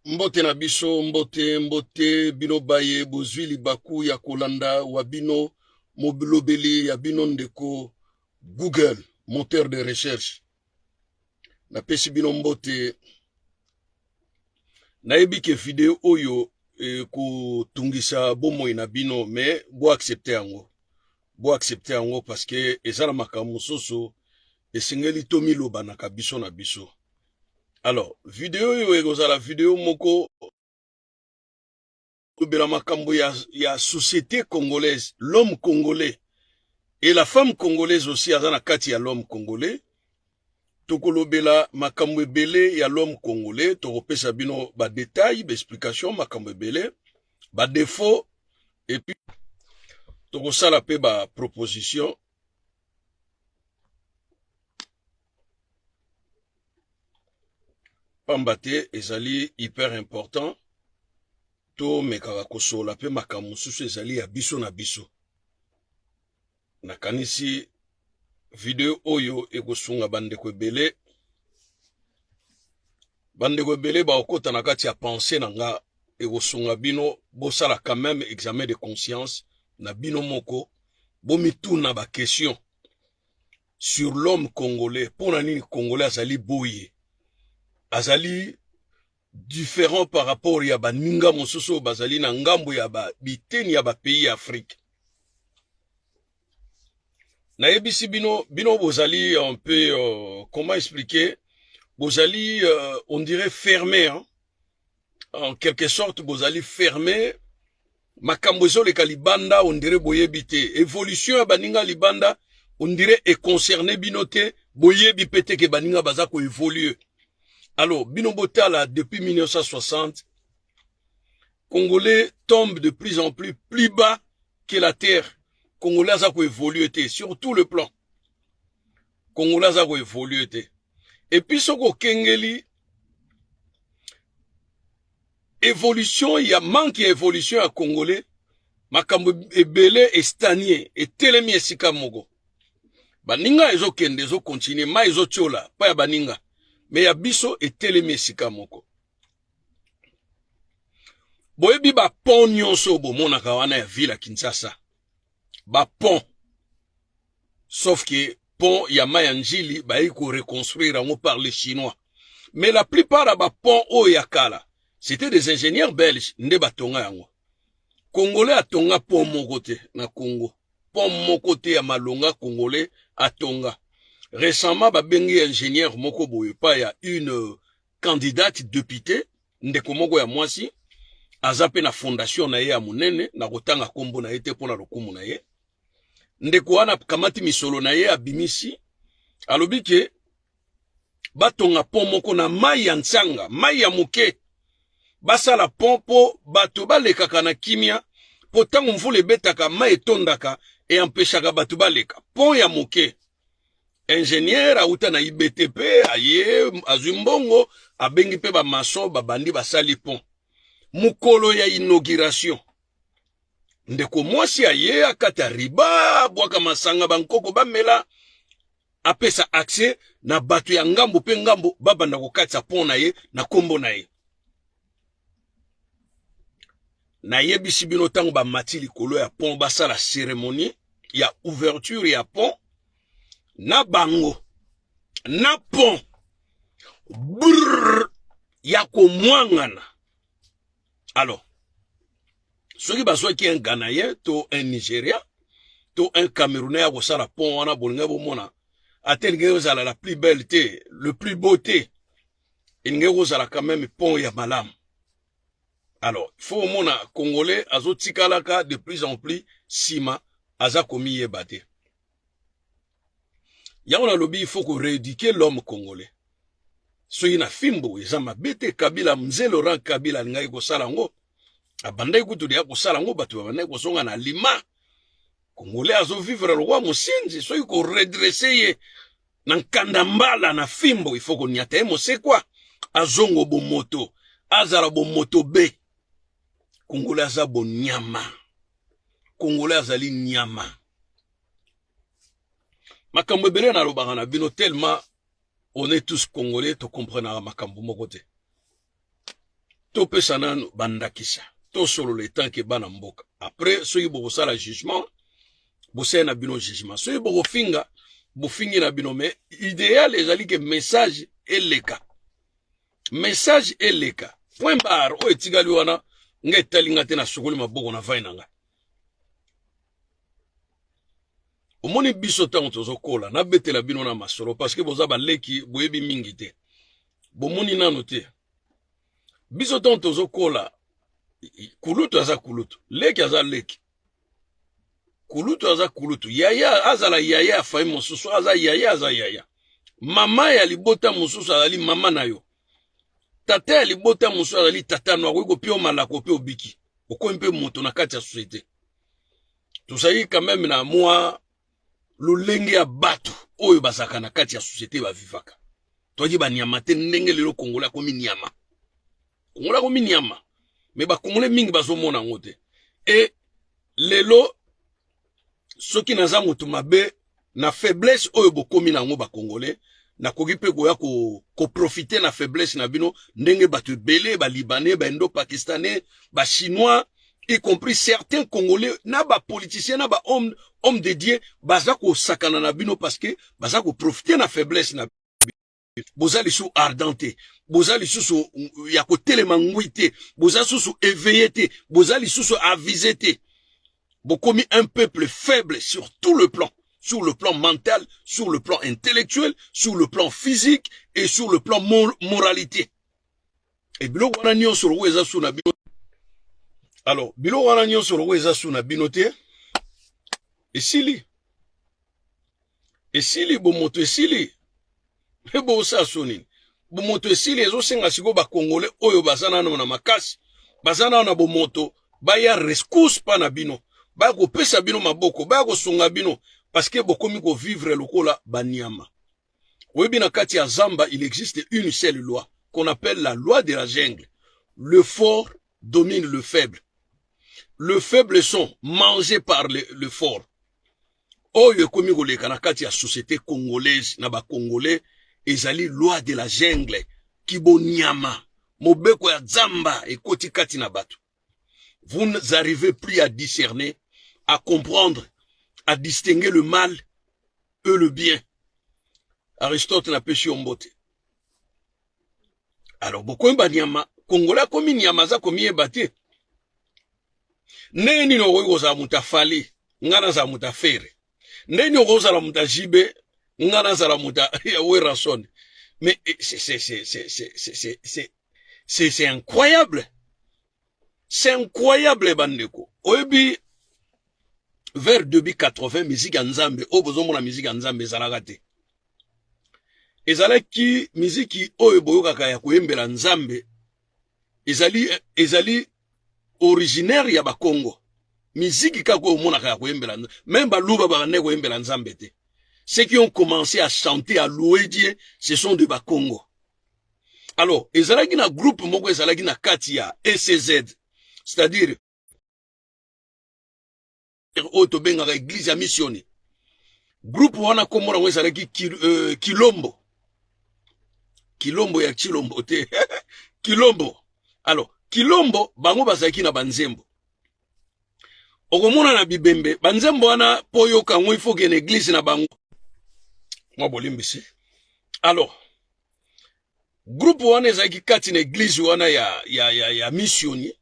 mbote na biso mbote mbote bino baye bozwi libaku ya kolanda wa bino mobilobeli ya bino ndeko google moteur de recherche napesi bino mbote nayebi ke video oyo ekotungisa bomoi na bino me boaccepte yango boaccepte yango parceke eza na makambo mosusu esengeli tomilobanaka biso na biso alors video oyo ekozala video moko kolobela makambo ya, ya société congolaise l'homme congolais et la femme congolaise aussi aza na kati ya l'homme congolais tokolobela makambo ebele ya l'homme congolais tokopesa bino badetail baexplication makambo ebele badefaut epuis tokosala mpe baproposition pamba te ezali hyper important tomekaka kosola mpe makambo mosusu ezali ya biso na biso nakanisi video oyo ekosunga bandeko ebele bandeko ebele bakokota na kati ya pense na nga ekosunga bino bosala quand même examen de conscience na bino moko bomituna bakestion sur l'homme congolais mpo na nini congolais azali boye azali différent par rapport ya baninga mosusu oyo bazali na ngambo ya ba, biteni ya bapays ya afrike nayebisi bino bino bozali un peu uh, comment expliquer bozali uh, on dirait ferme hein? en quelque sorte bozali ferme makambo ezoleka libanda ondire boyebi te evolution ya baninga libanda ondire econcerne bino te boyebi mpe te ke baninga baza koevolue alors bino botala depuis 1960 congolais tombe de plus en plus plus bas que la terre congolais aza koevolue te sur tout le plan congolais aza koevolue te epuis soki okengeli evolution ya manque ya evolution ya congolais makambo ebele estanie etelemi esika moko baninga ezokende ezokontinue mai ezotyola mpo ya baninga me ya biso etelemi esika moko boyebi bapont nyonso oyo bomonaka wana ya ville ya kinshasa bapont sauf que pont ya maya njili bayi ko reconstruire yango par les chinois mais la plupart ya ba pont oyo ya kala c'était des ingénieurs belges nde batonga yango congolais atonga pont moko te na congo pont moko te ya malonga congolais atonga récemment babengi ingénieur moko boye pa ya une euh, candidate députée ndeko moko ya mwasi aza mpe na fondation na ye ya monene na kotanga nkombo na ye te mpo na lokumu na ye ndeko wana akamati misolo na ye abimisi alobi ke batonga pont moko na mai ya nsanga mai ya moke basala pont mpo bato balekaka na kimia mpo ntango mvula ebetaka mai etondaka eampeshaka bato baleka pont ya moke ingenieur auta na ibtp aye azwi mbongo abengi mpe bamason babandi basali pont mokolo ya inauguration ndeko mwasi aye akata riba abwaka masanga bankoko bamela apesa accès na bato ya ngambo mpe ngambo babanda kokatisa pont na ye na nkombo na ye nayebisi bino ntango bamati likolo ya pont basala ceremonie ya ouverture ya pont na bango na pont brrr ya komwangana alors soki bazwaki un ganayen to un nigeria to un camerounais ya kosala pont wana bolingai bomona ata elingi kozala la plus belle te le plus beau te elingi kozala quand même pont ya malamu alors faut omona congolais azotikalaka de plus en plus nsima aza komiyeba te yango nalobi il faut ko rééduquer l'homme congolais soki na fimbo eza mabe te kabila mzee laurent kabila alingaki kosala yango abandaki kutu deya kosala yango bato babandaki kozonga na lima congolais azovivre lokwa mosenzi soki koredresse ye na nkanda mbala na fimbo ifo konyata ye mosekwa azongo bomoto azala bomoto be congolais aza bonyama congolais azali nyama makambo ebele nalobaka na bino tellement on est tous congolais tokomprenaka makambo moko te topesa nanu bandakisa tosolola etanke bana mboka après soki bokosala jugement bosala na bino jugement soki bokofinga bofingi na bino mais idéal ezali ke message eleka message eleka point barre oyo etikali wana nga etali nga te nasukoli maboko na vai na ngai omoni biso ntango tozokola nabetela bino na masolo parceke boza baleki boyebi mingi te bomoni nano te biso ntango tozokola kulutu aza kulutu leki aza leki kulutu aza kulutu yaya azala yaya ya fami mosusu aza yaya aza yaya mama ya libota mosusu azali mama na yo tata ya libota mosusu azali tata no akoki kopia yo malako mpe obiki okomi mpe moto na kati ya societe tozali quand meme na mwa lolenge ya bato oyo bazalaka na kati ya societe bavivaka toyaki banyama te ndenge lelo kongola akomi nyama kongola akomi nyama me bakongole mingi bazomona yango te e lelo soki naza moto mabe na faiblesse oyo bokomi na yango bakongole nakoki mpe koya koprofite ko na faiblesse na bino ndenge bato ebele balibanais baindo pakistanais bachinois y compris certains congolais na bapoliticien na bahomme homme de dieu baza kosakana na bino parce que baza koprofite na faiblesse na boza lisusu ardent te boza lisusu ya kotelema ngwi te boza lisusu éveillé te boza lisusu avise te bokomi un peuple faible sur tout le plan sur le plan mental sur le plan intellectuel sur le plan physique et sur le plan moralité e biloko wana nyonso lokola eza su na bino alors biloko wana nyonso lokola eza su na bino te esili esili bomoto esili mpe bosala so nini bomoto esili ezosenga sikoyo bakongole oyo baza nano na makasi baza nano na bomoto baya rescourse mpa na bino baya kopesa bino maboko baya kosunga bino parceke bokomi kovivre lokola banyama oyebi na kati ya zamba il existe une seule loi qu'on appelle la loi de la jungle le fort domine le faible le faible sont mangé par le, le fort oyo ekomi koleka na kati ya société congolaise na bacongolais ezali loi de la jungle kibonyama mobeko ya zamba ekoti kati na bato Vous n'arrivez plus à discerner, à comprendre, à distinguer le mal et le bien. Aristote n'a pas su Alors, beaucoup de nyama, Kongola komi nyama za komi ebate. Ndenge nini okoki kozala moto ya fali ngai nazala moto ya fere ndenge nini okoki kozala moto ya jibe ngai nazala moto ya werason mais eh, c'est c'est c'est incroyable c'est incroyable bandeko oyebi vers 2080 musique ya nzambe oyo bozomona musique ya nzambe ezalaka te ezalaki miziki oyo boyokaka ya koyembela nzambe ezali ezali originaire ya bakongo miziki kaka oyo omonaka ya koyembela meme baluba babandaki koyembela nzambe te ceux qui ont commencé à chanter à louer dieu ce sont de bakongo alors ezalaki na groupe moko ezalaki na kati ya ECZ c'est-à-dire oyo tobengaka eglise ya missione groupe wana kombo nango ezalaki kil, euh, kilombo kilombo ya kilombo te kilombo alors kilombo bango bazalaki na banzembo okomona na bibembe banzembo wana mpo oyoka yango ifo kende eglise na bango mwa bolimbisi alors groupe wana ezalaki kati na eglise wana ya, ya, ya, ya missioni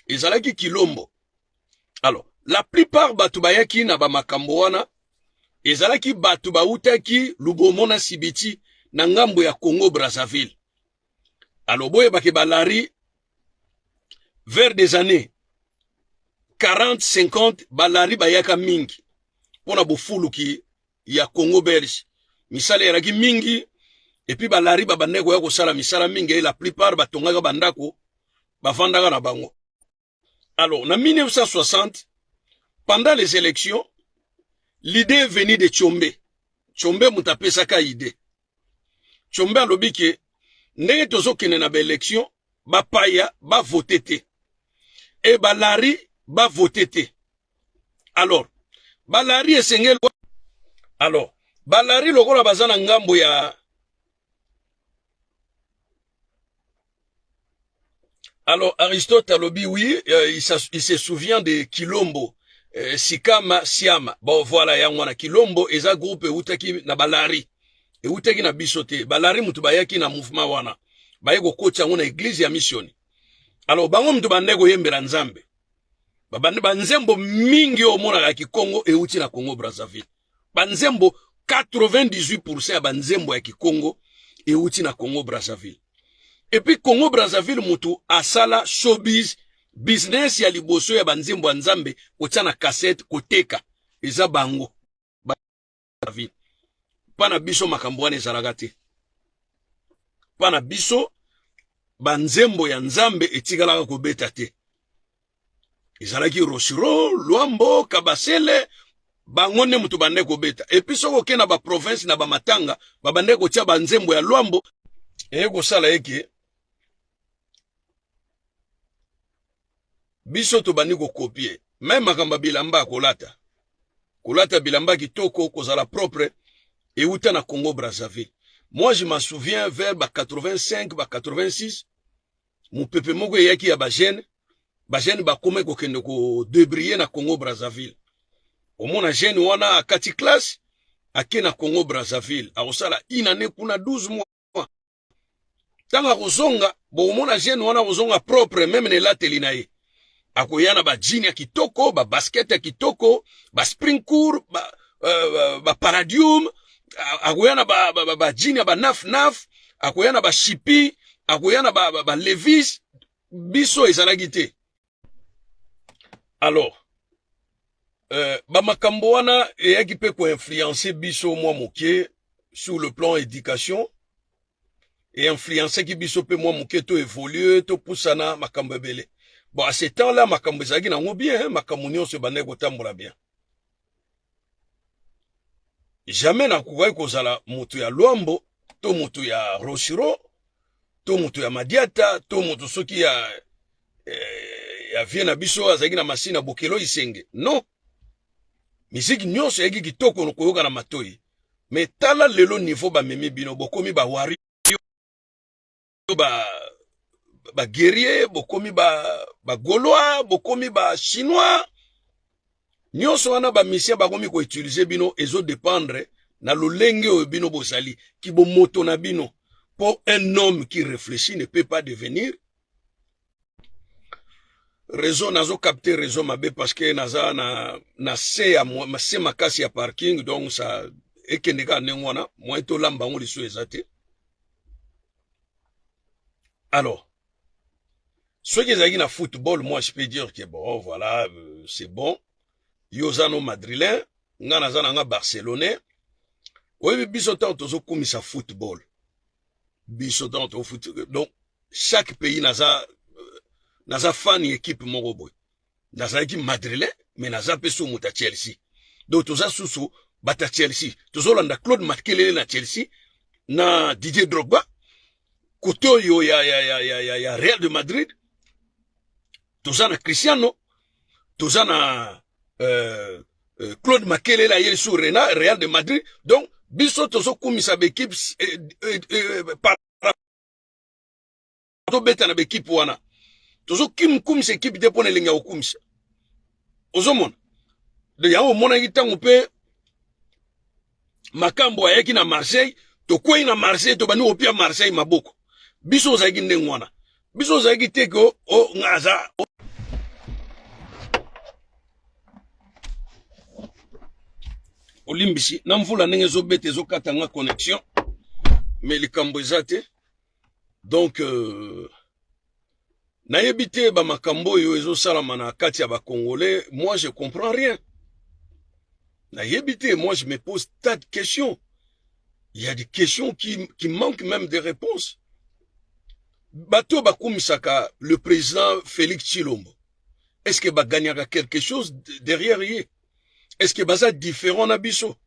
ezalaki kilombo alors la plupart bato bayaki na bamakambo wana ezalaki bato bautaki lubomo na sibiti na ngambo ya congo brazzaville alors boyeba ke balari vers des années 40 50 balari bayaka mingi mpo na bofuluki ya congo belge misala eyalaki mingi epuis balari babandaki koya kosala misala mingi la plupart batongaka bandako bafandaka na bango Alors, en 1960, pendant les élections, l'idée est venue de Tchombe. Tchombe mutapé saka idée. Tchombe a lobi que, ndenge tozo kene na ba élection, ba paya, ba voté te. Et ba lari, ba voté te. Alors, ba lari esengel Alors, ba lari lokola bazana ngambo ya Alors Aristote alobi oui, euh, il, il se souvient de Kilombo. Euh, Sikama Siama. Bon voilà yango wana Kilombo eza groupe eutaki na Balari. Eutaki na biso te. Balari mutu bayaki na mouvement wana. Baye kokoti yango na église ya missioni. Alors bango mutu bande koyembela Nzambe. Babande ba nzembo mingi omonaka Kikongo euti na Congo Brazzaville. banzembo 98% ya banzembo ya kikongo euti na congo brazzaville epuis congo brazzaville motu asala showbiz business ya liboso ya banzembo ya nzambe kotia na kasete koteka eza bango brazzaville mpa na biso makambo wana ezalaka te mpa na biso banzembo ya nzambe etikalaka kobeta te ezalaki rosiro luambo kabasele bango nde moto bandai kobeta epuis soki oke na baprovince na bamatanga babandai kotia banzembo ya luambo eye kosala eke biso tobandi kokopie meme makambo ya bilamba kolata kolata bilamba kitoko kozala propre euta na congo brazzaville moi je m'en souviens vers ba 85 ba 86 mopepe moko eyaki ya bajeune bajeune bakomaki kokende kodebrille na congo brazzaville omona jeune wana akati classe ake na congo brazzaville akosala une année kuna 12 mois ntango akozonga bokomona jeune wana akozonga propre meme na elateli na ye akoya na ba jean ya kitoko ba basket ya kitoko ba spring court ba, uh, ba paradium akoya na ba, ba, ba, ba jean ya ba naf naf akoya na ba shipi akoya na ba, ba, ba levis biso ezalaki te alors euh, bamakambo wana eyaki mpe koinfluence biso mwa moke sur le plan éducation einfluencaki biso mpe mwa moke to évolue topusana makambo ebele bon à ce temps là makambo ezalaki nango bien hein, makambo nyonso ebandaki kotambola bien jamais nakokaki kozala moto ya lwambo to moto ya rochiro to moto ya madiata to moto soki ya eh, ya vie na biso azalaki na masini ya bokelo isenge non miziki nyonso eyaki kitoko koyoka na matoi me tala lelo niveau bamemi bino bokomi bawari ba ba guerrier bokomi ba ba gaulois bokomi ba chinois nyonso wana ba misien bakomi ko utiliser bino ezo dependre na lolenge oyo bino bozali kibomoto na bino po un homme qui réfléchit ne peut pas devenir reseau nazo capter reseau mabe parce que naza na na se ya se makasi ya parking donc ça ekende kaka ndenge wana moyen tolamba yango lisusu eza te alors soki ezalaki na football moi je peux dire que bon voilà euh, c'est bon yo oza no madrilin nga naza na nga barcelonais oyebi biso ntango tozokumisa football biso donc tofuti donc chaque pays naza euh, naza fan ya ekipe moko boye nazalaki madrilin mais naza mpe so moto ya chelsea donc toza susu bato ya chelsea tozolanda claude makelele na chelsea na didier drogba kote oyo ya, ya, ya, ya, ya, ya real de madrid toza na Cristiano toza na euh, euh, Claude Makelela ye sur Rena Real de Madrid donc biso tozo kumisa bekipe eh, eh, eh, par tobeta na bekipe wana tozo kim kumisa ekipe te pona elengi ya kokumisa ozomona de yango omonaki ntango mpe makambo ayaki na marseille tokwei na marseille tobandi kopia marseille maboko biso ozalaki ndenge wana biso ozalaki te ke o oh, nga aza olimbisi na mvula ndenge ezobeta ezokata nga connexion me likambo eza te donc euh, nayebi te bamakambo oyo ezosalama na kati ya bacongolais moi je comprends rien nayebi te moi je me pose tas de questions il y a des questions qui, qui manquent même des réponses bato bakumisaka le président félix tshilombo est ce que bagagnaka quelque chose derrière ye est ce que baza différent na biso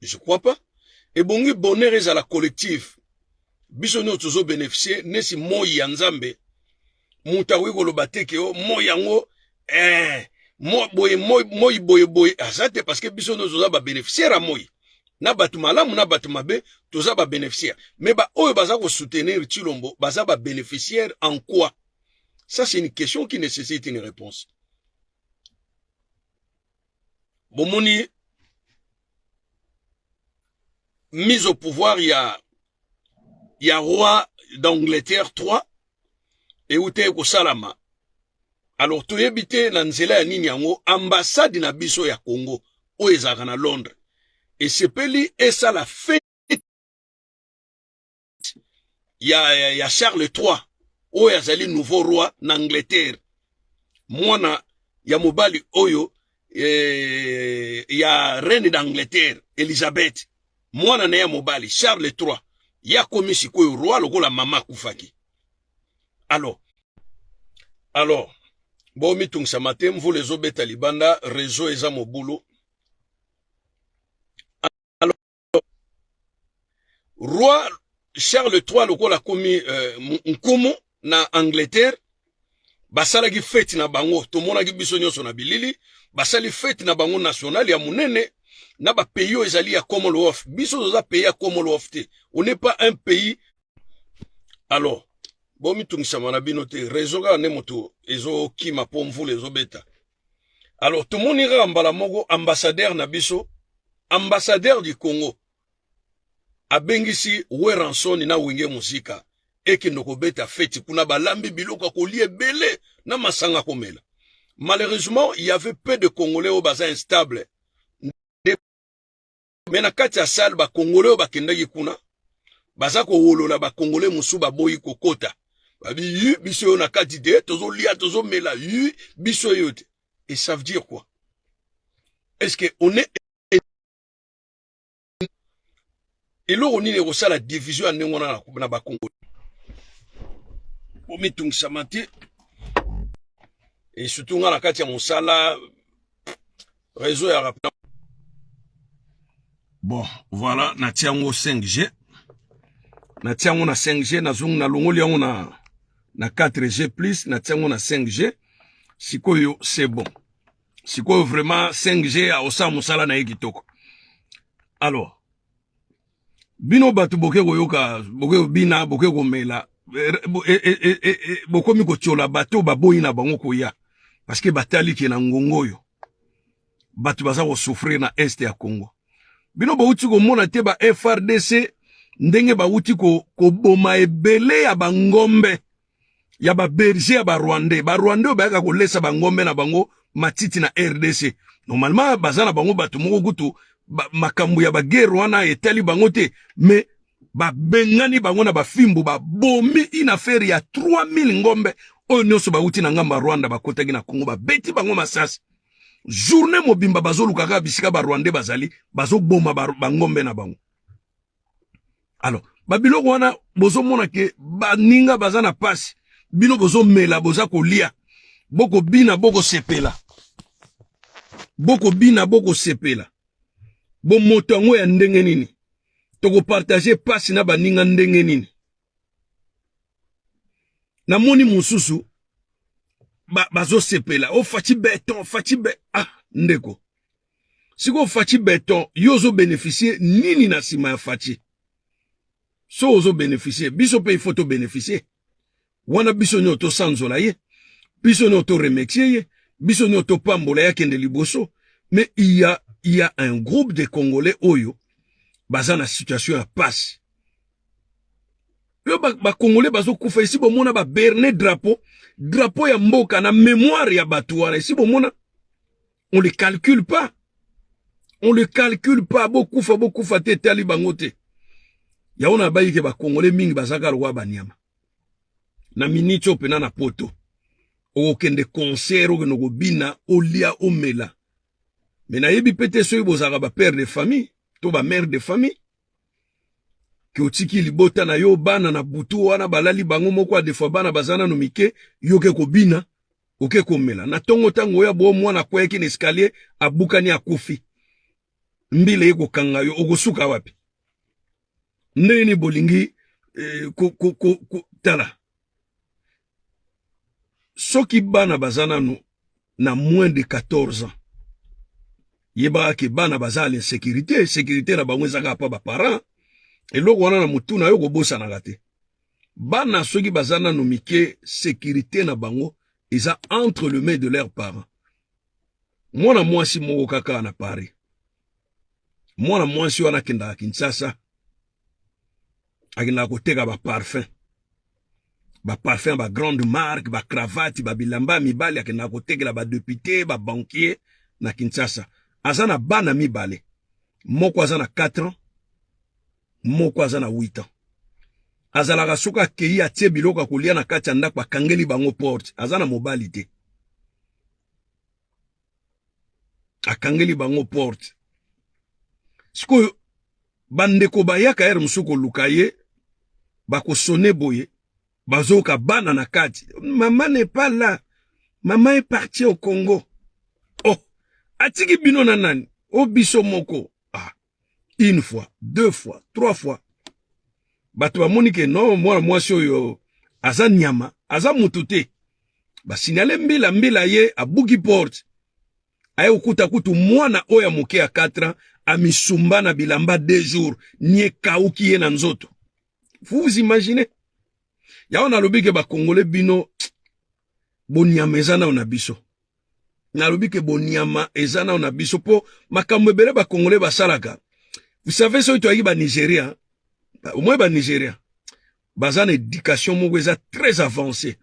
je crois pas ebongi bonheur ezala collectif biso nyonso tozo beneficie nesi moi ya nzambe moto akoki koloba te ke o oh, moi yango eh, moi boye moi moi boye boye aza te parce que biso nyonso toza babeneficiaire ya moi na bato malamu na bato mabe toza babeneficiaire mais baoyo baza kosoutenir tshilombo baza babeneficiaire en quoi ça c'est une question qui nécessite une réponse bomoni mise au pouvoir ya ya roi d'angleterre 3 eutaki kosalama alors toyebi te na nzela ya nini yango ambassade na biso ya congo oyo ezalaka na londres esepeli esala fete ya, ya, ya Charles 3 oyo azali nouveau roi na Angleterre mwana ya mobali oyo eh, ya reine d'Angleterre Elizabeth mwana na ya mobali Charles 3 ya komi sikoyo roi lokola mama akufaki alors alors bomitungisama te mvula ezobeta libanda reseau eza mobulu roi Charles III lokola komi euh, nkumu na Angleterre basalaki fete na bango tomonaki biso nyonso na bilili basali fete na bango nationale ya monene na ba pays oyo ezali ya Commonwealth biso toza pays ya Commonwealth te on n'est pas un pays alors bomitungisama na bino te raison kaka nde moto ezokima mpo mvula ezobeta alors tomoni kaka mbala moko ambassadeur na biso ambassadeur du congo abengisi weranson na wenge muzika ekende kobeta feti kuna balambi biloko ya kolia ebele na masanga komela malheureusement il y avait peu de congolais oyo baza instable me na kati ya sale bakongole oyo bakendaki kuna baza kowolola bakongole mosusu baboyi kokota babi yu biso oyo na kati te tozolia tozomela yu biso oyo te et ça veut dire quoi est ce que on est eloko nini ekosala division ya ndenge wana na bakongole bomitungisama te e surtout nga na kati ya mosala reseau ya rapida bon voilà natia yango 5g natia yango na 5g nazongi nalongoli yango na na 4g plus natia yango na 5g sikoyo c'est bon sikoyo vraiment 5g aosala mosala na ye kitoko alors bino bato boke koyoka boke kobina boke komela eh, eh, eh, bokomi kotyola bato baboyi na bango koya parceke batali ke na ngongo oyo bato baza kosouffrir na est ya congo bino bauti komona te ba frdc ndenge bauti koboma ko ebele ya bangombe ya ba berger ya ba rwandais ba rwandais bayaka kolesa bangombe na bango matiti na rdc normalement baza na bango bato moko kutu ba, makambo ya bagere wana etali bango te mais babengani bango na bafimbu babomi une affaire ya 3000 ngombe oyo nyonso bauti na ngambo ya rwanda bakotaki na kongo babeti bango masasi journée mobimba bazolukaka bisika barwandais bazali bazoboma bangombe na bango alors babiloko wana bozomona ke baninga baza na pasi bino bozomela boza kolia bokobina bokosepela bokobina bokosepela bomoto yango ya ndenge nini tokopartage pasi na baninga ndenge nini namoni mosusu bazosepela ba o faci beton faci be ah ndeko sikoyo faci beton yo ozo beneficie nini na nsima ya faci so ozo beneficie biso mpe ifo tobeneficie wana biso nyonso tosanzola ye biso nyonso toremetie ye biso nyonso topambola ye akende liboso mais il y a, il y a un groupe de congolais oyo baza na situation ya pasi yo bakongole ba bazokufa esi bomona baberne drapo drapo ya mboka na memoire ya bato wana esi bomona on le calcule pas on le calcule pas bokufa bokufa te etali bango te yango na bayi ke bakongole mingi bazaka lokola banyama na miniti oyo mpena na poto okokende concert okende kobina olia omela me nayebi mpe te soki bozalaka bapère de famille to bamare de famille ke otiki libota na yo bana na butu wana balali bango moko adefua bana baza nano mike yo ke kobina oke komela na ntongo ntango oya bo mwana akweyaki na escalier abukani akufi mbila ye kokanga yo okosuka wapi ndenge nini bolingi eh, ko, ko, ko, ko, tala soki bana baza nanu na moins de 14 ans yebaka ke bana baza na insécurité sécurité na bango ezaka pa baparent eloko wana na motu na yo kobosanaka te bana soki baza nanu mike sécurité na bango eza entre le main de leurs parents mwana mwasi moko kaka na paris mwana mwasi wana akendaka Kinshasa, akendaka koteka ba parfum ba parfum ba grande marque ba cravate ba bilamba ya mibali, akendaka kotekela ba depute ba banquier na Kinshasa. Aza na bana mibale, moko aza na 4 ans, moko aza na 8 ans. Azalaka soki akei atie biloko ya kolia na kati ya ndako, akangeli bango porte. Aza na mobali te. akangeli bango porte sikoyo bandeko bayaka ere mosusu koluka ye bakosone boye bazoyoka bana na kati mama n'est pas là mama est partie au congo oh atiki bino na nani o oh, biso moko une fois deux fois trois fois bato bamoni ke no mwana mwasi oyo aza nyama aza motu te basinyale mbila mbila ye abuki porte aye kokuta kutu mwana oyo ya moke ya 4 ans amisumba na bilamba deux jours ni ekauki ye na nzoto vous vous imaginez yango nalobi ke bakongole bino bonyama eza nao na biso nalobi ke bonyama eza nao na biso mpo makambo ebele bakongole basalaka vous savez soki toyaki banigeria omoi banigeria baza na éducation moko eza très avancé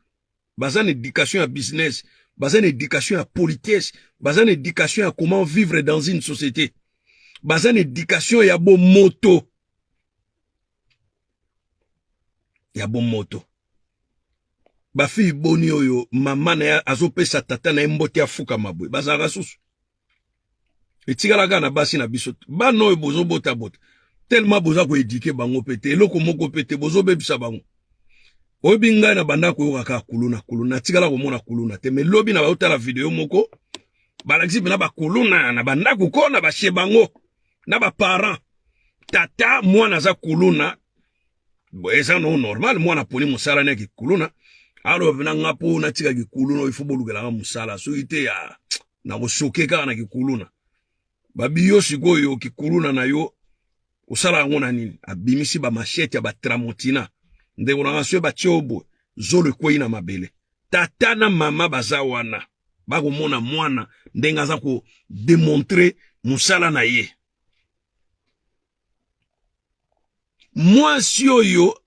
baza na éducation ya business baza na éducation ya politesse baza na éducation ya comment vivre dans une société baza na éducation ya bomoto ya bomoto bafili boni oyo mama na ye azopesa tata na ye mbote afukama boye bazalaka susu etikalaka na basi na biso bana oyo bozobotabota telema boza koedike bango mpe te eloko moko mpe te bozobebisa bango oyebi ngai na banda koyoka kaka kuluna kuluna natikala komona kuluna te me lobi na baotala video moko balakisi mpena bakuluna na bandako kona bashe bango na ba parents tata mwana aza kuluna eza no normal mwana aponi mosala na kikuluna alors na nga mpo natika kikuluna oyo ifo bolukelanga mosala soki te ya nakosoke kaka na kikuluna babiyo sikoyo kikuluna na yo osala yango na nini abimisi bamashete ya batramontina ndeko na nga soki batye oyo boye zolo ekwei na mabele tata na mama baza wana bakomona mwana ndenge aza ko demontre mosala na ye mwasi oyo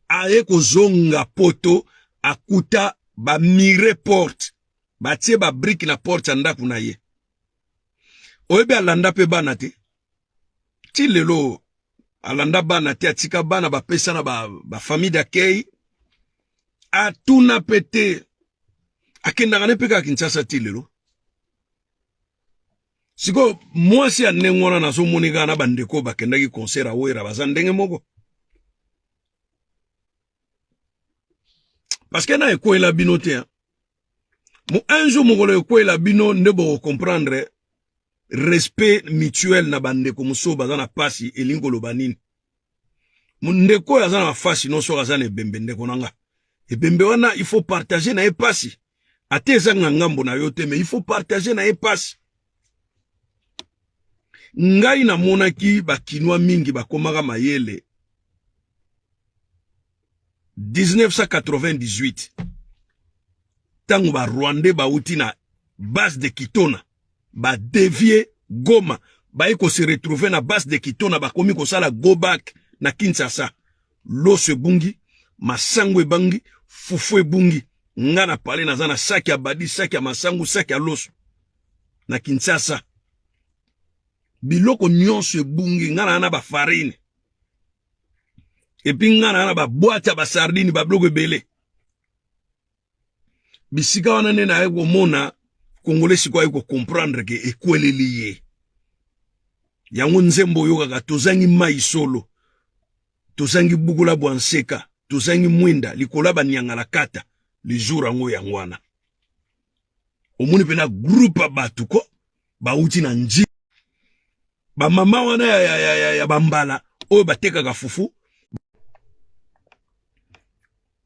aye kozonga poto akuta bamire porte batie babrike na porte ya ndako na ye oyebi alanda mpe bana te ti lelo alanda bana te atika bana bapesa na ba, ba famille d'accueil atuna mpe te akendaka ne mpe kaka kinshasa ti lelo sikoyo mwasi ya ndenge wana nazomoni kaka na bandeko bakendaki concert awera baza ndenge moko parce que na ekwela bino te hein? mo un jour mokolo ekwela bino nde boko comprendre respect mutuel na bandeko mosusu baza na pasi elingi koloba nini ndeko oyo aza na bafasi nyonso oyo aza na ebembe ndeko na nga ebembe wana il faut partager na ye pasi ata ezanga ngambo na yo te mais il faut partager na ye pasi ngai namonaki bakinois mingi bakomaka mayele 1998 ntango ba rwandais bauti na base de kitona ba devie goma baye ko se retrouver na base de kitona bakomi kosala go back na kinshasa loso ebungi masango ebangi fufu ebungi nga na pale naza na saki ya badi saki ya masango saki ya loso na kinshasa biloko nyonso ebungi nga na na bafarine epi nga naa na babwate ya basardine babiloko ebele bisika wana nde naye komona kongole sikoyo aye kocomprendre ke ekweleli ye yango nzembo oyokaka tozangi mai solo tozangi bukola bwa nseka tozangi mwinda likolo ya baniangalakata lizur yango yango wana omoni mpe na groupe ya bato ko bauti na nji bamama wana ya, ya, ya, ya, ya bambala oyo batekaka fufu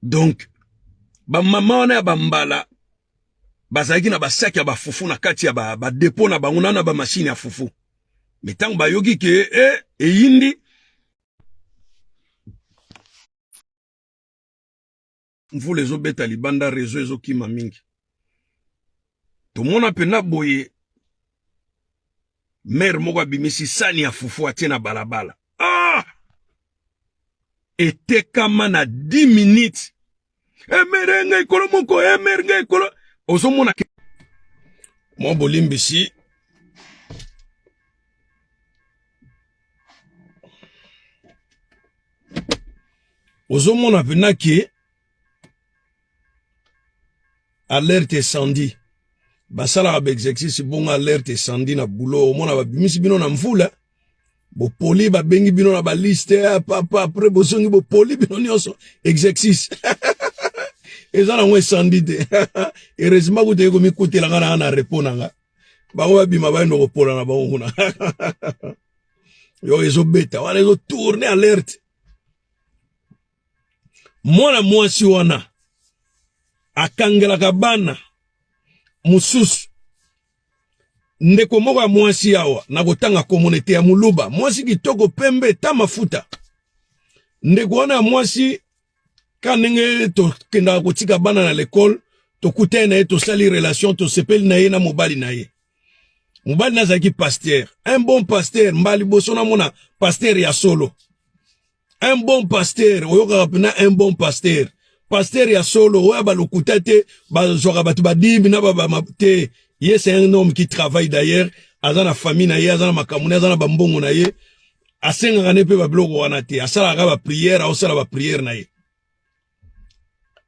donc bamama wana ya bambala bazalaki na basaki ya bafufu na kati ya badepo ba na bango na na bamashini ya fufu me ntango bayoki ke e eh, eyindi mvula ezobeta libanda rezo ezokima mingi tomona mpenza boye mere moko abimisi sani ya fufu atie na balabala ah! etekama na 10 minutes emere eh, ngai kolo moko emere eh, ngai kolo ozomona ke mwa bolimbisi ozomona mpena ke alerte esandi basalaka baexercice bongo alerte esandi na boulot omona babimisi bino na mvula bopoli babengi bino na baliste ya eh, papa apres bozongi bopoli bino nyonso exercice eza nango esandi te heureusement kuta ekomikutela nga na nga na repo na nga bango babima bayende kopola na bango kuna yo ezobeta wana ezo tourne alerte mwana mwasi wana akangelaka bana mosusu ndeko moko ya mwasi awa na kotanga komonete ya muluba mwasi kitoko pembe ta mafuta ndeko wana ya mwasi ka ndenge tokendaka kotika bana na lekole tokutani na ye tosali relation tosepeli na ye na mobali na ye mobali nazalaki pasteur un bon pasteur mbala liboso namona pasteur ya solo un bon pasteur oyokaka mpena un bon pasteur pasteur ya solo oyo balokuta te bazwaka bato badimi na babama te ye c'est un homme qui travaille d'ailleurs aza na famille na ye aza na makambo na ye aza na bambongo na ye asengaka ne mpe babiloko wana te asalaka bapriere aosala bapriere na ye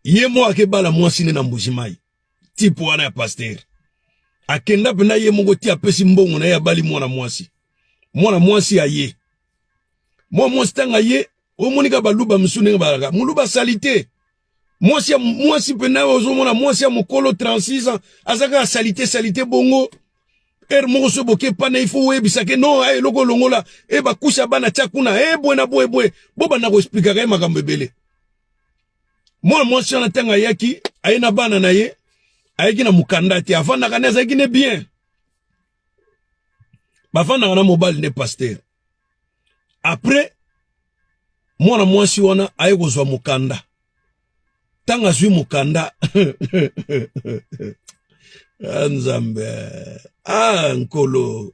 ye moko akebala mwasi ne na mbujimayi tipe wana ya pastere akenda mpenza ye moko ti apesi mbongo na ye abali mwana mwasi mwana mwasi aye mwana mwasi ntango aye omonika baluba mosusu ndenge balaka moluba salite mwasi ya mwasi mpe nayo ozomona mwasi ya mokolo 36 ans aza kaka salite salite bongo ere moko so boke pana ifo oyebisa ke no eh, eloko olongola e eh, bakusi ya bana tya kuna e bwe na bwe bwe bobanda koexplikaka ye makambo ebele mwana mwasi wana ntango ayaki aye na bana na ye ayaki na mokanda te afandaka nde azalaki nde bien bafandaka na mobali nde pastere Après mwana mwasi wana aye kozwa mokanda ntango azwi mokanda ah, nzambe ah nkolo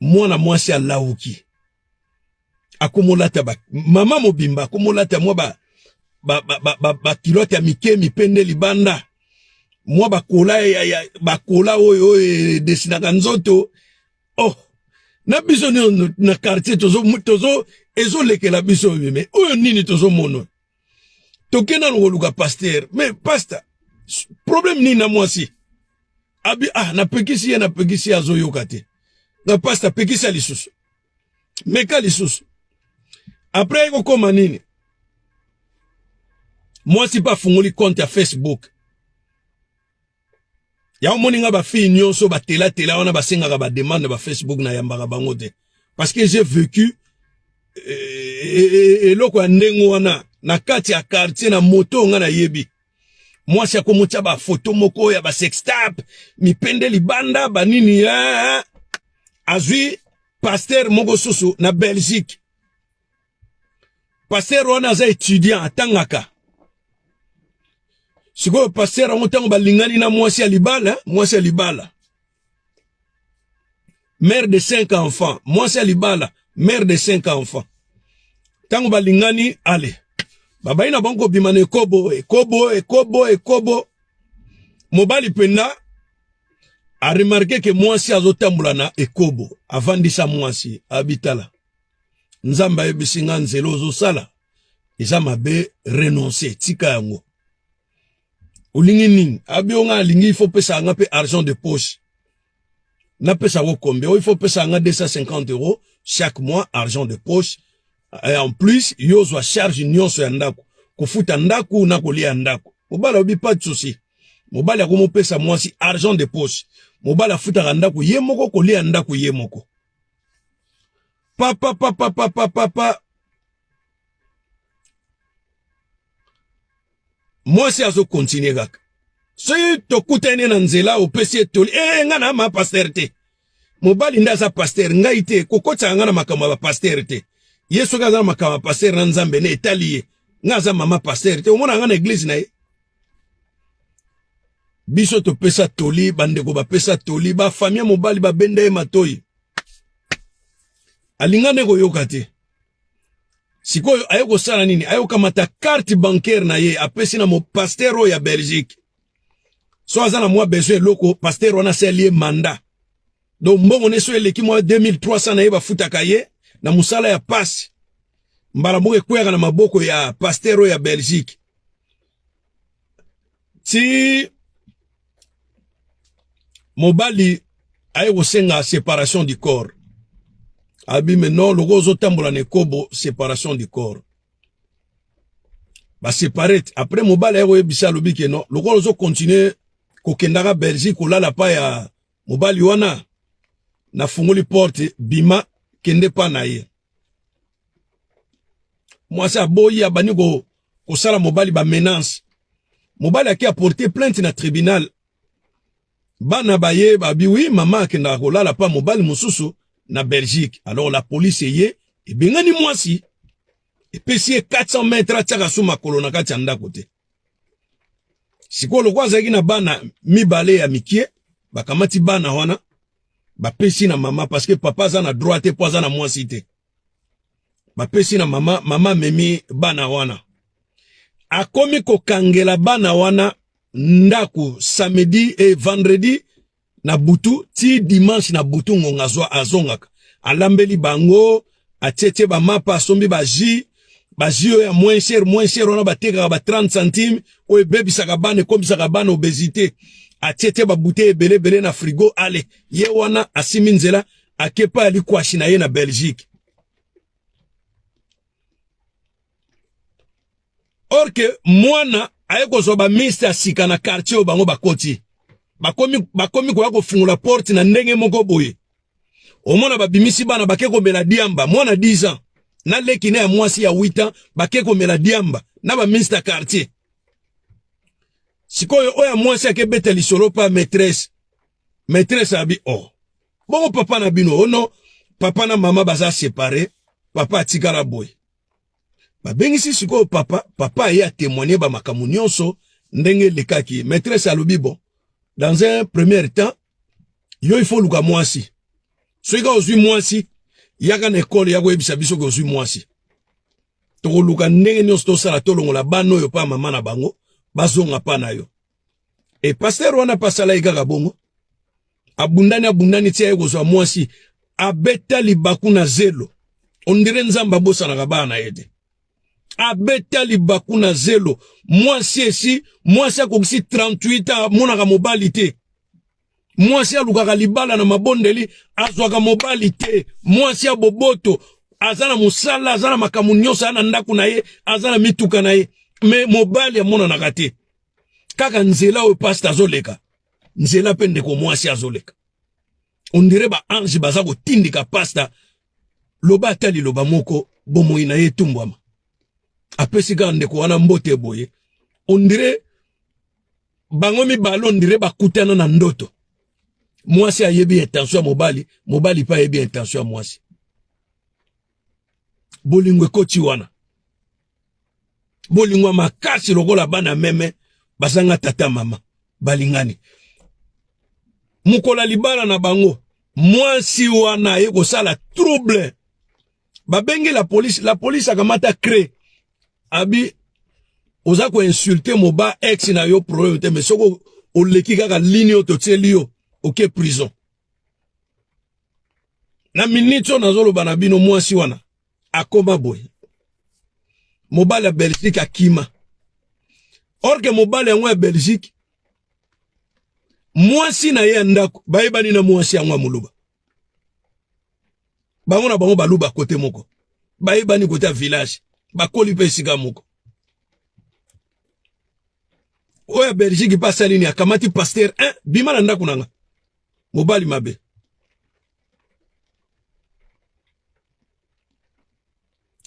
mwana mwasi alawuki akomolata ba mama mobimba akomolata mwa ba ba, ba, ba, ba, ba kilote ya mike mipende libanda mwa bakola ya, ya bakola oyo oyo edesinaka nzoto oh na biso niono na quartier tozo tozo ezolekela biso oyo me oyo nini tozomono toke nano koluka paster me paster problème nini na mwasi abi ah napekisi ye napekisi ye azoyoka te na paster pekisa lisusu meka lisusu apres ekokoma nini mwasi mpe afungoli compte ya facebook yango moni nga ba fille nyonso ba tela tela wana basengaka ba demande ba Facebook na yambaka bango te parce que j'ai vécu euh, eloko ya ndenge wana na kati ya quartier na moto nga nayebi mwasi akomotya ba photo moko ya ba sextap mipende libanda banini eh, eh, eh. azwi pasteur moko susu na Belgique pasteur wana aza étudiant atangaka sikoyo pasteur yango ntango balingani na mwasi ya libala mwasi ya libala mère de cinq enfants mwasi ya libala mère de cinq enfants ntango balingani ale babai na bango kobima na ekobo ekobo ekobo ekobo mobali mpenza aremarke ke mwasi azotambola na ekobo avandisa mwasi abitala nzambe ayebisi nga nzela ozosala eza mabe renonce tika yango olingi nini abi yo nga alingi ifo pesa nga mpe argent de poche napesa yango kombe oyo ifo pesa nga 250 euros chaque mois argent de poche et en plus yo ozwa charge nyonso ya ndako kofuta ndako na kolia ndako mobali obi pas de souci mobali akomopesa mwasi argent de poche mobali afutaka ndako ye moko kolia ndako ye moko papa papa papa papa mwasi azokontinue kaka soki tokutani na nzela opesi ye toli ee eh, ngai na ma paster te mobali nde aza paster ngai te kokotisaka ngai na makambo ya bapaster te ye soki aza na makambo ya paster na nzambe na etali ye ngai aza mama paster te omona ngai na eglize na ye biso topesa toli bandeko bapesa toli bafami ya mobali babenda ye matoi alinga nde koyoka te sikoyo aye kosala nini aye kokamata carte bancaire na ye apesi na mopaster oyo ya belgique so aza na mwa besoin eloko paster wana asali ye mandat Donc mbongo neso eleki mwa 2300 na ye bafutaka ye na musala ya pasi. Mbala moko ekweyaka na maboko ya pasteur oyo ya Belgique. Ti mobali aye kosenga separation du corps. Abi me non loko ozotambola na ekobo separation du corps. Ba separate après mobali aye koyebisa alobi ke non loko ozo continuer kokendaka Belgique kolala pa ya mobali wana nafungoli porte bima kende pa na ye mwasi aboyi abandi ko kosala mobali ba menace mobali ake aporte plainte na tribunal bana baye babi wi mama akendaka kolala pa mobali mosusu na belgique alors la police eye ebengani mwasi epesi ye 400 mètre atiaka so makolo na kati ya ndako te sikoyo lokola azalaki na bana mibale ya mikie bakamati bana wana bapesi na mama parce que papa aza na droit te mpo aza na mwasi te bapesi na mama mama amemi bana wana akomi kokangela bana wana ndako samedi e vendredi na butu ti dimanche na butu ngonga azwa azongaka alambeli bango atietie bamapa asombi baji baji oyo ya moins cher moins cher wana batekaka ba 30 centime oyo ebebisaka bana ekomisaka bana obesité atietie babutei ebele ebele na frigo ale ye wana asimi nzela akepa ya likwashi na ye na belgique or que mwana aye kozwa ba miste ya sika na quartier oyo bango bakoti bakomi bakomi koya kofungola porte na ndenge moko boye omona babimisi bana bake komela diamba mwana 10 ans na leki na ya mwasi ya 8 ans bake komela diamba na ba miste ya quartier sikoyo oyo ya mwasi akebeta lisolo pa maîtresse maîtresse abi oh bongo papa na bino ono oh papa na mama baza separe papa atikala boye babengisi sikoyo papa papa aye atemoigne bamakambo nyonso ndenge elekaki maîtresse alobi bon dans un premier temps yo ifo oluka mwasi soki kaka ozwi mwasi yaka na ekole ya koyebisa biso ke ozwi mwasi tokoluka ndenge nyonso tosala tolongola bana oyo mpa mama na bango bazonga mpa na yo e pasteur wana mpe asala ye kaka bongo abundani abundani tia ye kozwa mwasi abeta libaku na zelo ondire nzambe abosanaka bana na ye te abeta libaku na zelo mwasi esi mwasi akokisi 38 amonaka mobali te mwasi alukaka libala na mabondeli azwaka mobali te mwasi ya boboto aza na mosala aza na makambo nyonso aza na ndako na ye aza na mituka na ye me mobali amonanaka te kaka nzela oyo pasta azoleka nzela mpe ndeko mwasi azoleka ondire baange baza kotindika pasta loba ata liloba moko bomoi na ye etumbwama apesi kaka ndeko wana mbote boye ondire bango mibale ondire bakutana na ndoto mwasi ayebi intention ya mobali mobali mpe ayebi intention ya mwasi bolingo ekoti wana bolingo ya makasi lokola bana meme bazanga tata mama balingani mokola libala na bango mwasi wana ye kosala trouble babengi la police la police akamata cre abi oza koinsulte moba ex na yo problème te mais soko oleki kaka lini oyo totieli yo oke prison na minute oyo nazoloba na bino mwasi wana akoma boye mobali ya belgique akima orke mobali yango ya belgique mwasi na ye ya ndako bayebani na mwasi yango ya moluba bango na bango baluba kote moko bayebani kote ya village bakoli mpe esika moko oyo ya belgique mpe asali nini akamati paster 1 bima na ndako na nga mobali mabe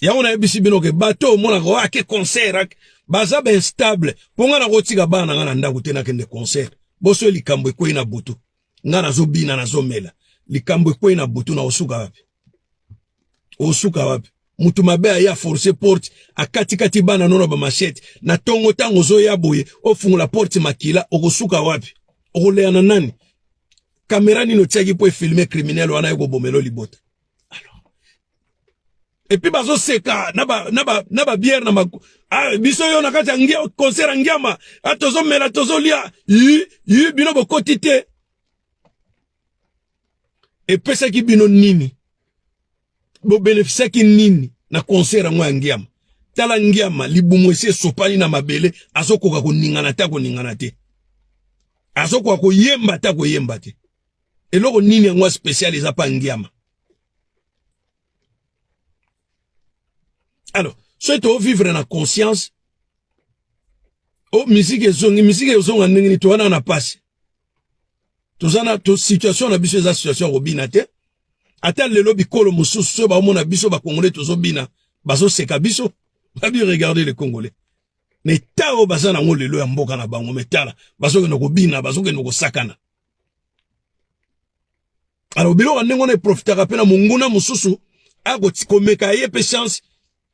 yango nayebisi bino ke bato omonaka oyo ake concert ake baza bainstable mpo ngai nakotika bana na ngai na ndako te nakende concert boso likambo ekwei na butu nga nazobina nazomela likambo ekwei na butu na osuka wapi osuka wapi mutu mabe aya force porte akatikati bana nono bamashete na tongo ntango ozoya boye ofungola porte makila okosuka wapi okoleya na nani kamera nini otiaki mpo efilme kriminele wana ekobomelo libota et puis bazo seka na ba na ba na ba bière na ma ah biso yo na kati ya ngia concert ya ngiama ah tozo mela tozo lia yi yi bino bokoti te epesaki bino nini bobenefisiaki nini na concert yango ya ngiama tala ngiama libumu esi esopani na mabele azokoka koningana te akoningana te azokoka koyemba te akoyemba te eloko nini yango ya spesiale eza mpa ngiama alors soki tovivre na conscience o oh, miziki ezongi miziki ezonga ndenge nini towana na pasi toza na to situation na biso eza situation ya kobina te ata lelo bikolo mosusu soki baomona biso bakongole tozobina bazoseka biso babi regarde le congolais na eta oyo baza nango lelo ya mboka na bango metala bazokende kobina bazokende kosakana alors biloko ndenge wana eprofitaka mpe na monguna mosusu akomeka ye mpe chance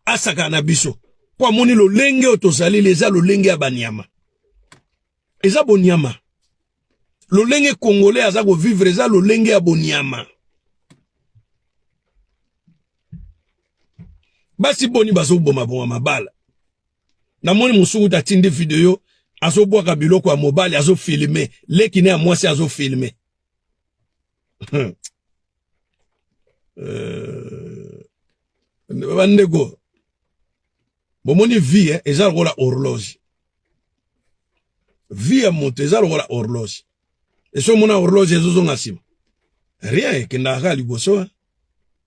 asakana na biso mpo amoni lolenge oyo tozaleli eza lolenge ya banyama eza bonyama lolenge congolais aza kovivre eza lolenge ya bonyama basi boni bazoboma boma mabala namoni mosuku te atindi video azobwaka biloko ya mobali azofilme leki ne ya mwasi azofilme hmm. euh, bandeko bomoni vie eh, eza lokola horloge vie ya moto eza lokola horloge esi omona horloge ezozonga nsima rien ekendaka kaka liboso eh.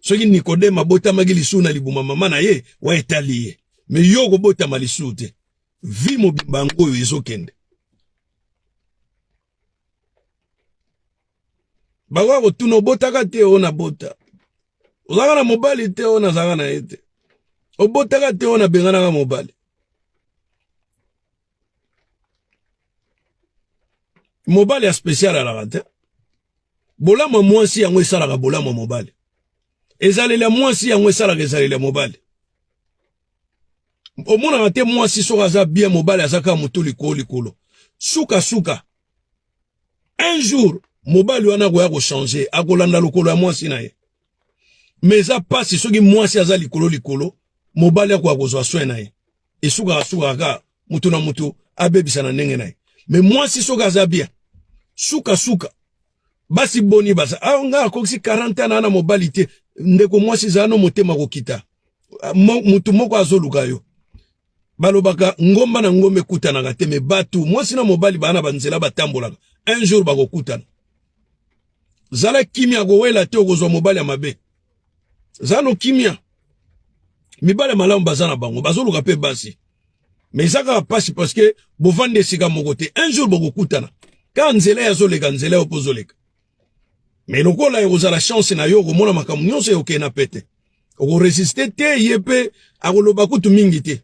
soki Nikodeme abotamaki lisusu na libuma mama na ye wa etali ye, me yo okobotama lisusu te. Vi mobimba yango oyo ezokende bakoya kotuna obotaka te oyo nabota, ozalaka na mobali te oyo nazalaka na ye te, obotaka te oyo nabenganaka mobali. mobali ya special alaka te bolamu ya mwasi yango esalaka bolamu ya mobali ezaleli ya mwasi yango esalaka ezaleli ya mobali omonaka te mwasi soki aza bien mobali aza kaka moto likolo likolo sukasuka un jour mobali wana akoya kochange akolanda lokolo ya mwasi na ye mais eza pasi soki mwasi aza likolo likolo mobali akoka kozwa soin na ye esukaka sukaka kaka moto na moto abebisa na ndenge na ye mais mwasi soki aza bien suka suka basi boni baza awa ah, ngai akokisi 40 ans na na mobali te ndeko mwasi zala no motema kokita ah, motu moko azoluka yo Balobaka ngomba na ngomba ekutanaka te, me batu mwasi na mobali baa na banzela batambolaka, un jour bakokutana. Zala kimia, kowela te, okozwa mobali ya mabe. Zala no kimia. Mibale malamu baza na bango, bazoluka pe basi. Mais eza kaka pasi parce que bovandi esika moko te. Un jour bokokutana. Kaka nzela ya zoleka, nzela yo pozoleka. Mais lokola ekozala chance na yo, okomona makambo nyonso eokena pete. okoresiste te ye mpe akoloba kutu mingi te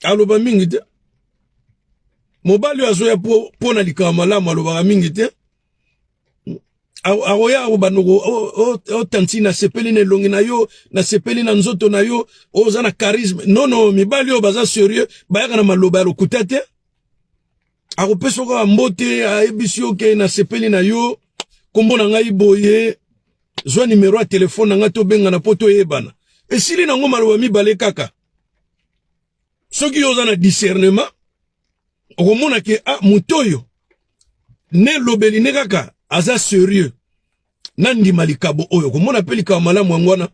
aloba mingi te mobali oyo azoya mpo na likambo malamu alobaka mingi te akoya akobanda otanti nasepeli na elongi na yo nasepeli na nzoto na yo oza na charisme nono mibali oyo baza serieux bayaka na maloba ya lokuta te akopesa kaka mbote ayebisi yo ke nasepeli na yo nkombo na ngai boye zwa nimero ya telefone na ngai tobengana mpo toyebana esili nango maloba mibale kaka soki yo oza na discernement okomona ke a ah, moto oyo nelobeli ne kaka aza serieux nandima likabo oyo komona mpe likabo malamu yango wana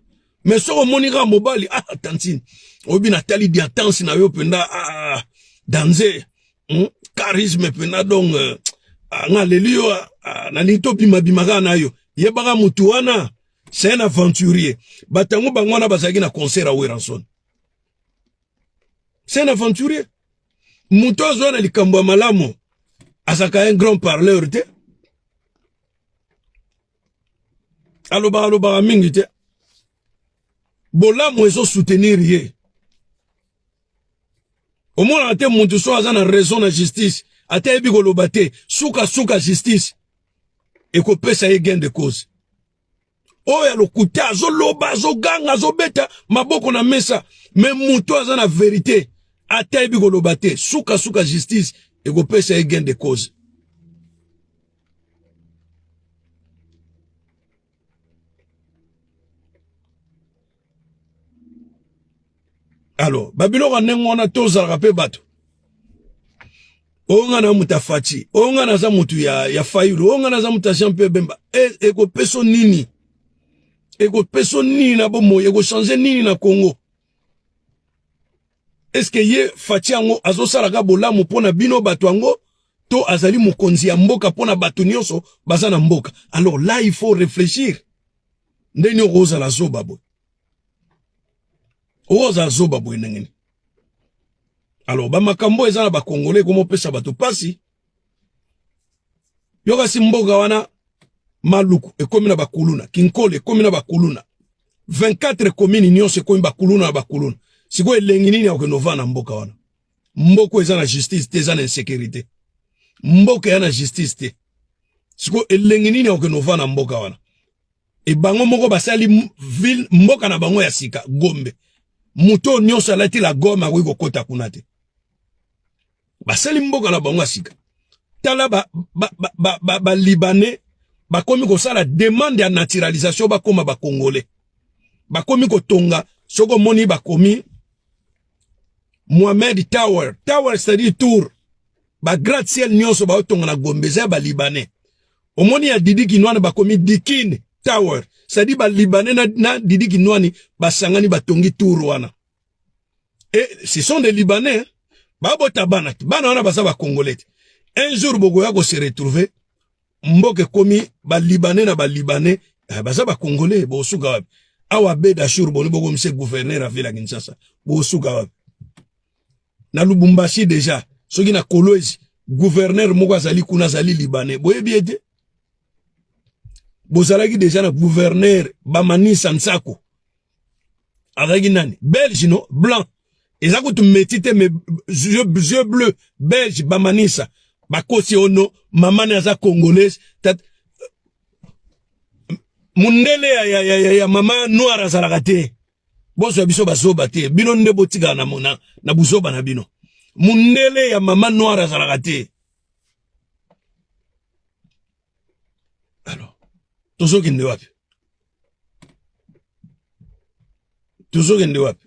me soki omoni kaka mobali ah, ah tantine oyebi natali diatanse na yo mpenza ah, ah danze hmm? charisme mpenza donc euh, ah, nga leli yo ah, ah, nalingi tobimabima kaka na yo yebaka motu wana c'est un aventurier bato yango bango wana bazalaki na concert ya weranson c'est un aventurier moto azwa na likambo ya malamu azalaka un grand parleur te alobaka alobaka mingi te bolamu ezo soutenir ye omonaka te mutu so aza na raison na justice ata yebi koloba te sukasuka justice ekopesa ye gain de cause oyo ya lokuta azoloba azoganga azobeta maboko na mesa me moto aza na verite ata yebi koloba te sukasuka justice ekopesa ye gain de cause alors babiloko ya ndenge wana tozalaka mpe bato oyo nga na moto afaci oyo nga naza moto ya, ya fayulu oyo nga naza moto ya jean mpe bemba e, ekopeso e nini ekopeso nini na bomoi ekochange nini na congo eske ye faci yango azosalaka bolamu mpo na bino bato yango to azali mokonzi ya mboka mpo na bato nyonso baza na mboka alors là il faut réfléchir ndenge okozala zoba boye oza zoba boye ndenge nini alors bamakambo eza na bakongole ekomopesa bato mpasi yo kasi mboka wana maluku ekomi na bakuluna kinkole ekomi na bakuluna 24 komini nyonso ekomi bakuluna na bakuluna sikoyo elengi nini akokende ovanda na mboka wana mboka eza na justice te eza na insécurité mboka eza na justice te sikoyo elengi nini akokende ovanda na mboka wana e bango moko basali ville mboka na bango ya sika Gombe moto oyo nyonso alati la gomme akoki kokota kuna te basali mboka na bango ya sika tala ba, ba, ba, ba, ba, ba libanais bakomi kosala demande ya naturalisation bakoma bakongole bakomi kotonga soki omoni bakomi mohamed tower tower c'est-à-dire tour ba gratte ciel nionso ba otonga na Gombe eza ba libanais omoni ya Didi Kinwani bakomi Dikin Tower c'est-à-dire ba libanais na, na Didi Kinwani basangani batongi tour wana et ce sont des libanais babota bana te bana wana baza ba congolais te un jour bokoya ko se retrouver mboka ekomi ba libanais na ba libanais eh, baza ba congolais bosuka wapi awa beda jour boni bokomisa gouverneur ya ville ya Kinshasa bosuka wapi na Lubumbashi deja soki na Kolwezi gouverneur moko azali kuna azali libanais boyebi ye te bozalaki deja na gouverneur bamanisa nsako azalaki nani belge no blanc eza kutu meti te mais yeux bleu belge bamanisa bakosi ono mamani aza congolaise tat... mundele ya, ya, ya, ya, ya mama noir azalaka te Bozwa biso bazoba te. Bino nde botikala na mona na buzoba na bino. Mundele ya mama noire azalaka te. Alors, tozokende wapi? Tozokende wapi?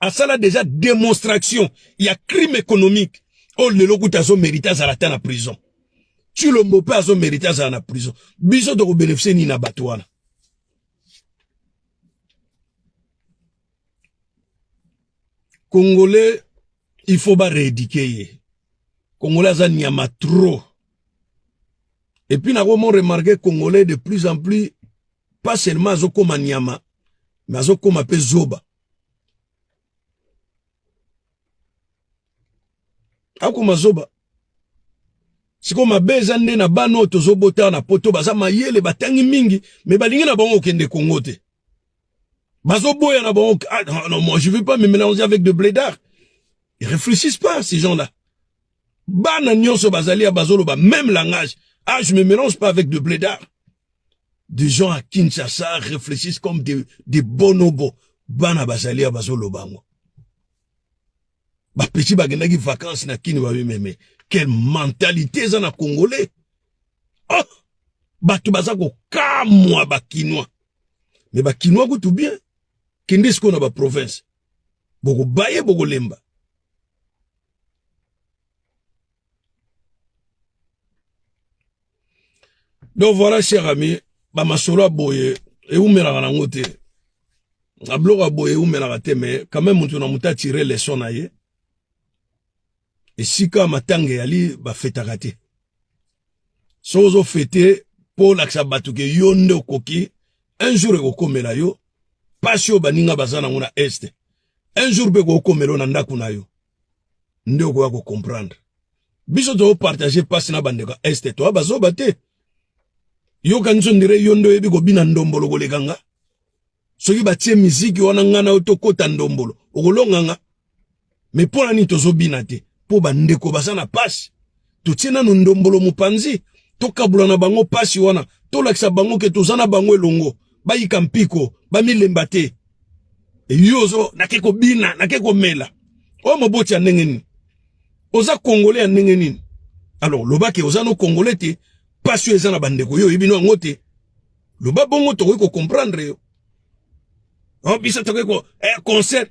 asala deja demonstration ya crime économique oyo oh, lelo kuta azomerite azala ata na prison cilombo mpe azomerite azala na prison biso tokobenefise nini na bato wana congolais il faut bareedike ye congolais aza nyama trop epuis nakomo remarke congolais de plus en plus pas seulement azokoma nyama me azokoma mpe zoba akoma zoba sikoyo mabe eza nde na bana oyo tozobota na poto baza mayele batangi mingi me balingi na bango kokende kongo te bazoboya na bango ah, non, non, moi je veux pas me mélanger avec de blédard ils réfléchissent pas ces gens là bana nionso bazali ya bazoloba même langage ah je me mélange pas avec de blédard des gens à Kinshasa réfléchissent comme des, des bonobos bana bazali ya bazoloba yango bapeti bakendaki vacances na kini babimeme quelle mentalité eza na congolais oh bato baza kokamwa bakinois me bakinois kutu bien kende sikoyo na baprovince bokobaye bokolemba donc voilà cher ami bamasolo ya boye ewumelaka nango te na biloko ya boye ewumelaka te mais quand même moto na moto atire leson na ye esika matanga eyali bafetaka te soki ozofete mpo olakisa bato ke yo nde okoki un jour ekokomela yo mpasi oyo baninga baza nango na este un jour mpe kokomelo na ndako na yo nde okoya kocomprendre biso tozopartage mpasi na bandeko ya este toya bazoba te yokanisi ondire yo nde oyebi kobina ndombolo koleka nga soki batie miziki wana nga na yo tokota ndombolo okolonga nga me mpo na nini tozobina te mpo bandeko baza na mpasi totie nanu ndombolo mopanzi tokabula na bango pasi wana tolakisa bango ke toza na bango elongo bayika mpiko bamilemba te eyo ozo nake kobina nake komela oyo moboti ya ndenge nini oza kongole ya ndenge nini alors loba ke oza no kongole te pasi oyo eza na bandeko yo oyebi no yango te loba bongo tokoki kocomprendre yo o oh, biso tokoki ko eh, concert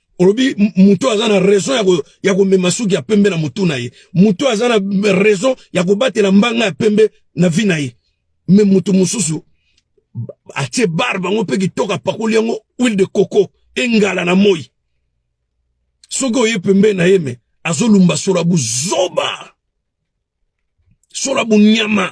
olobi mutu aza na raison ya ko ya ko mema suki ya pembe na mutu na ye mutu aza na raison ya ko batela mbanga ya pembe na vie na ye mais mutu mususu atie bar bango pe kitoka pakoli yango huile de coco engala na moi soki oye pembe na ye me azolumba sola buzoba sola bunyama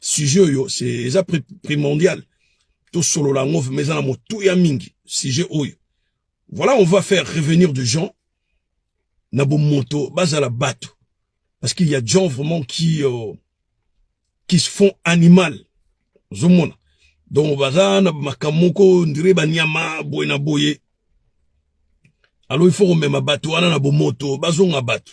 sujet oyo c'est eza primordial tosolola yango vraimen eza na motuya mingi sujet oyo voilà on va faire revenir de gens na bomoto bazala bato parce qu'il y a des gens vraiment qui euh, qui se font animal ozomona donc baza na makambo moko ndire banyama boye na boye alors il faut komema bato wana na bomoto bazonga bato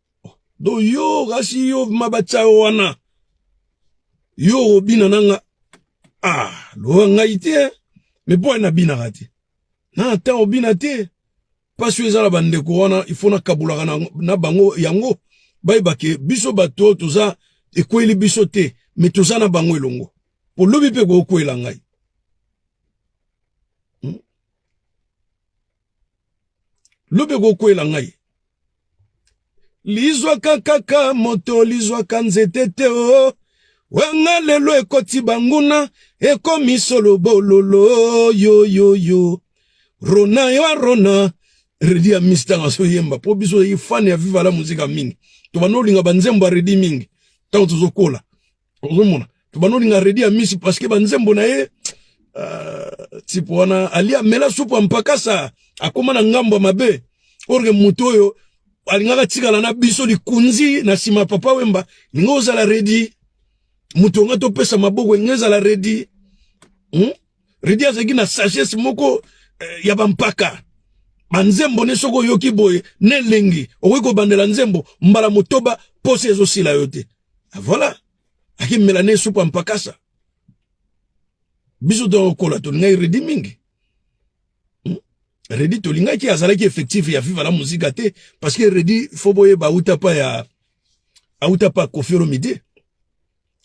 do yo kasi yo mabatsa wana yo obina nanga ah lowa ngai te eh. me mpo na binaka te na ata obina te mpasi oyo eza na bandeko wana ifo nakabolaka na, na bango yango bayeba ke biso bato toza ekweli biso te me toza na bango elongo mpo lobi mpe kokwela ngai lobi ekokwela ngai lizwaka kaka moto lizwaka nzete te o oh. wanga lelo ekoti banguna ekomi solo bololo yoyoyo rona yo arona redi ya mistanga soyemba mpo biso ozali fane ya vivala muzika mingi tobanda olinga banzembo ya redi mingi ntango tozokola ozomona tobanda olinga redi ya misi parceke banzembo na ye uh, tipo wana alia mela supu ya mpakasa akóma na ngambo ya mabe orke moto oyo alingaka tikala na biso likunzi na nsima papa wemba linga ozala redi moto nga topesa maboko elinga ezala redi hmm? redi azalaki na sagesse moko eh, ya bampaka banzembo ne soki oyoki boye na elengi okoki kobandela nzembo mbala motoba mposa ezosila yo te Ah, voilà. Aki melane supu ya mpakasa. Biso tokola tolingai redi mingi. Hmm? Redi tolingaki azalaki effectif ya Viva la Musica te parce que Redi faut boyeba auta pa ya auta pa Koffi Olomide.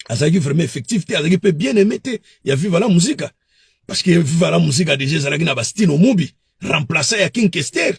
Azalaki vraiment effectif te, azalaki pe bien aimé te ya Viva la Musica. Parce que Viva la Musica déjà ezalaki na Bastino Mubi, remplaçant ya King Kester.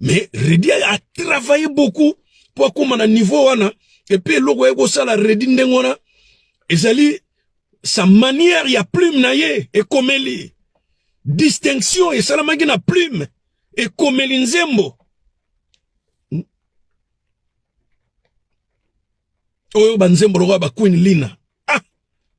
mais Reddy a travaillé beaucoup mpo akóma na niveau wana epuis eloko aye kosala Reddy ndenge wana ezali sa manière ya plume na ye ekomeli distinction esalamaki na plume ekomeli nzembo oyo banzembo lokola ba Queen Lina ah